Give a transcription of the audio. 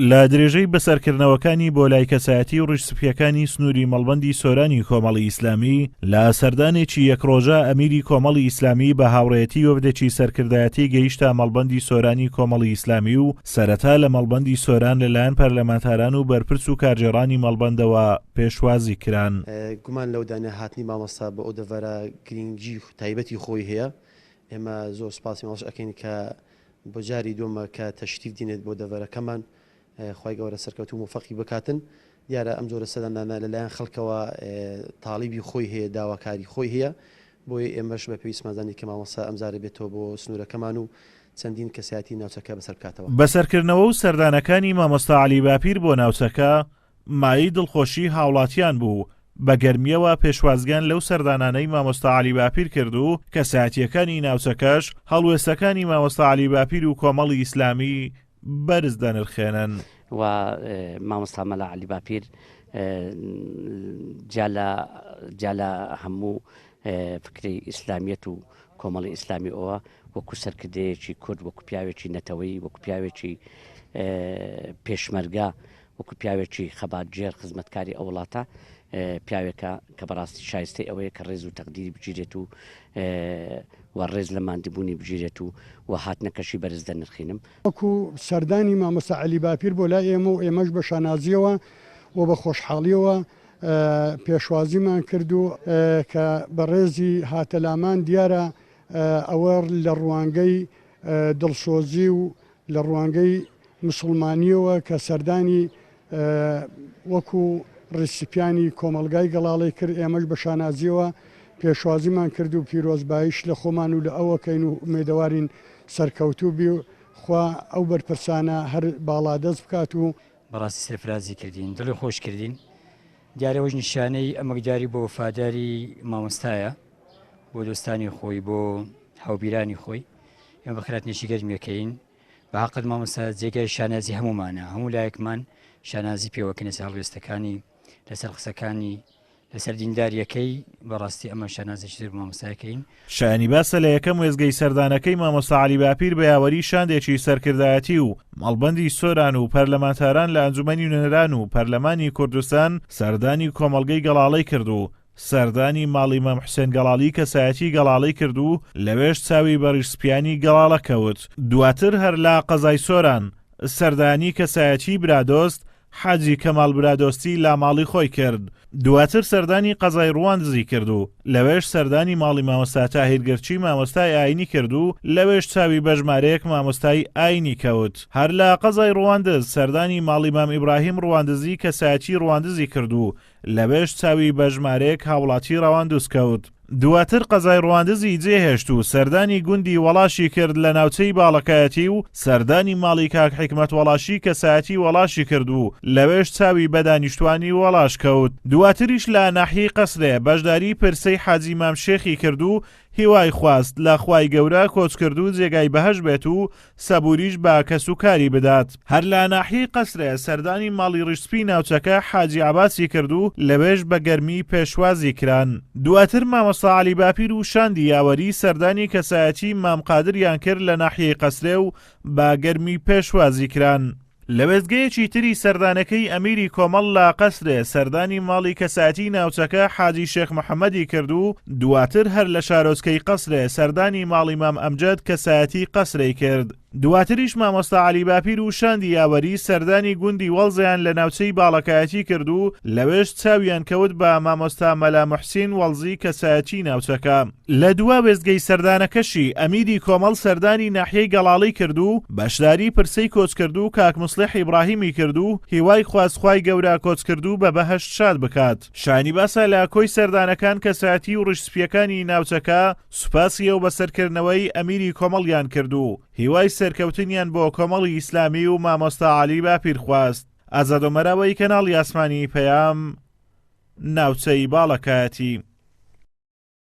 لە درێژەی بەسەرکردنەوەکانی بۆ لای کەسایەتی و ڕیشسپیەکانی سنووری مەڵبندی سۆرانی کۆمەڵی ئیسلامی لە سەردانێکی یەک ڕۆژە ئەمیری کۆمەڵی ئیسلامی بە هاوڕێتی وەفدێکی سەرکردایەتی گەیشتە مەڵبندی سۆرانی کۆمەڵی ئیسلامی و سەرەتا لە مەڵبندی سۆران لەلایەن پەرلەمانتاران و بەرپرس و کارجێڕانی مەڵبندەوە پێشوازی کران گومان لەودانە هاتنی مامۆستا بۆ ئەو دەڤەرە گرنگی تایبەتی خۆی هەیە ئێمە زۆر سپاسی ماڵش ئەەکەین کە بۆ جاری دووەمە کە تەشریف دینێت بۆ دەڤەرەکەمان خوای گەورە سەرکەوتوو موفەقی بکاتن دیارە ئەم جۆرە سەدانانە لەلایەن خەڵکەوە تاڵیبی خۆی هەیە داواکاری خۆی هەیە بۆیە ئێمەش بە پێویستمان زانی کە مامۆستا ئەمجارە بێتەوە بۆ سنوورەکەمان و چەندین کەسایەتی ناوچەکە بەسەر بکاتەوە. بەسەرکردنەوە و سەردانەکانی مامۆستا عەلی باپیر بۆ ناوچەکە مایەی دڵخۆشی هاوڵاتیان بوو، بە گەرمییەوە پێشوازیان لەو سەردانانەی مامۆستا عەلی باپیر کرد و کەسایەتییەکانی ناوچەکەش هەڵوێستەکانی مامۆستا عەلی باپیر و کۆمەڵی ئیسلامی بەرز دەنرخێنن. و مامۆستا مەلا عەلی باپیر جیا لە جیا لە هەموو فکرەی ئیسلامیەت و کۆمەڵی ئیسلامی ئەوە وەکو سەرکردەیەکی کورد وەکو پیاوێکی نەتەوەی وەکو پیاوێکی پێشمەرگە وەکو پیاوێکی خەباتگێر خزمەتکاری ئەو وڵاتە پیاوێکە کە بەڕاستی شایستەی ئەوەیە کە ڕێز و تەقدیری بگیرێت و و ڕێز لە ماندبوونی بگیرێت و و هاتنەکەشی بەرز دەنرخینم وەکو سەردانی مامۆستا علی باپیر بۆ لای ئێمە و ئێمەش بە شانازیەوە و بە خۆشحاڵیەوە پێشوازیمان کرد و کە بەڕێزی هاتەلامان دیارە ئەوە لە ڕوانگەی دڵسۆزی و لە ڕوانگەی مسوڵمانییەوە کە سەردانی وەکو ڕیسیپیانی کۆمەڵگای گەڵاڵەی کرد، ئێمەش بە شانازییەوە پێشوازیمان کرد و پیرۆزباییش لە خۆمان و لە ئەو ئەکەین و ئومێدەوارین سەرکەوتوو بی و خوا ئەو بەرپرسانە هەر باڵادەست بکات و بەڕاستی سەرفرازی کردین دڵی خۆش کردین دیارە ئەوەش نیشانەی ئەمەکداری بۆ وەفاداری مامۆستایە بۆ دۆستانی خۆی بۆ هاوبیرانی خۆی. ئێمە بەخێراتنێکی گەرم یەکەین بە هەقت مامۆستا جێگای شانازی هەمومانە هەموو لایەکمان شانازی پێوەکەنە ساڵ وێستەکانی لەسەر قسەکانی لەسەر دینداریەکەی بەڕاستی ئەمە شانازێکی زۆر مامۆستایەکەین شایانی باسە لە یەکەم وێزگەی سەردانەکەی مامۆستا علی باپیر بە یاوەری شاندێکی سەرکردایەتی و مەڵبەندی سۆران و پەرلەمانتاران لە ئەنجومەنی نوێنەران و پەرلەمانی کوردستان سەردانی کۆمەڵگەی گەڵاڵەی کرد و سەردانی ماڵی مام حوسێن گەڵاڵی کەسایەتی گەڵاڵەی کرد و لەوێش چاوی بە ڕیشسپیانی گەڵاڵە کەوت، دواتر هەر لە قەزای سۆران سەردانی کەسایەتی برادۆست حاجی کەماڵ برادۆستی لە ماڵی خۆی کرد، دواتر سەردانی قەزای ڕووان دزی کرد و لەوێش سەردانی ماڵی مامۆستا تاهیر گرچی مامۆستای ئاینی کرد و لەوێش چاوی بە ژمارەیەک مامۆستای ئاینی کەوت، هەر لە قەزای ڕواندز سەردانی ماڵی مام ئیبراهیم ڕواندزی کەسایەتی ڕواندزی کرد و لەوێش چاوی بە ژمارەیەک هاوڵاتی ڕەواندز کەوت. دواتر قەزای ڕواندزی جێهێشت و سەردانی گوندی وەڵاشی کرد لە ناوچەی باڵەکایەتی و سەردانی ماڵی کاک حیکمەت وەڵاشی کەسایەتی وەڵاشی کرد و لەوێش چاوی بە دانیشتوانی وەڵاش کەوت. دواتریش لە ناحیەی قەسرێ بەشداری پرسەی حاجی مام شێخی کرد و هیوای خواست لە خوای گەورە کۆچکردوو جێگای بەهەشت بێت و سەبووریش بە کەس و کاری بدات. هەر لە ناحیەی قەسرێ سەردانی ماڵی ڕیشسپی ناوچەکە حاجی عەباسی کرد و لەوێش بە گەرمی پێشوازی کران. دواتر مامۆستا عەلی باپیر و شاندی یاوەری سەردانی کەسایەتیی مام قادریان کرد لە ناحیەی قەسرێ و بە گەرمی پێشوازی کران. لە وێستگەیەکی تری سەردانەکەی ئەمیری کۆمەڵ لە قەسرێ سەردانی ماڵی کەسایەتی ناوچەکە حاجی شێخ محەممەدی کرد و دواتر هەر لە شارۆچکەی قەسرێ سەردانی ماڵی مام ئەمجەد کەسایەتی قەسرەی کرد دواتریش مامۆستا علی باپیر و شاندی یاوەری سەردانی گوندی وەڵزیان لە ناوچەی باڵەکایەتی کرد و لەوێش چاویان کەوت بە مامۆستا مەلا محسین وەڵزی کەسایەتی ناوچەکە لە دوا وێستگەی سەردانەکەشی ئەمیری کۆمەڵ سەردانی ناحیەی گەڵاڵەی کرد و بەشداری پرسەی کۆچکردوو کاک موسڵیح ئیبڕاهیمی کرد و هیوای خواست خوای گەورە کۆچکردوو بە بەهەشت شاد بکات. شایانی باسە لە کۆی سەردانەکان کەسایەتی و ڕیش سپییەکانی ناوچەکە سوپاسی ئەو بەسەرکردنەوەی ئەمیری کۆمەڵیان کرد و هیوای سەرکەوتنیان بۆ کۆمەڵی ئیسلامی و مامۆستا عەلی باپیر خواست. ئازادۆ مەراوەی کەناڵی ئاسمانی پەیام ناوچەی باڵەکایەتی.